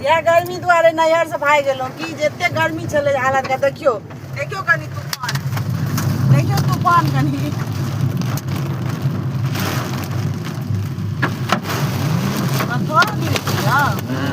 इएह गर्मी दुआरे नैहर से भागि गेलहुँ की जे एते गर्मी छलै हालत के देखियौ देखियौ कनि तूफान देखियौ तूफान कनि थोड़ा गिरै छी ने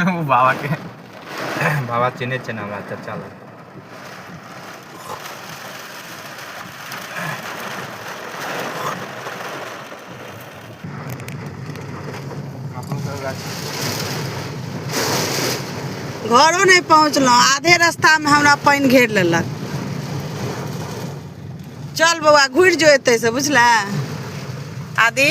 ओ बाबाके बाबा चिन्है छै ने हमरा चचा लग घरो नहि पहुँचलहुँ आधे रास्तामे हमरा पानि घेर लेलक चल बौआ घुरि जो एतै से बुझलए आदि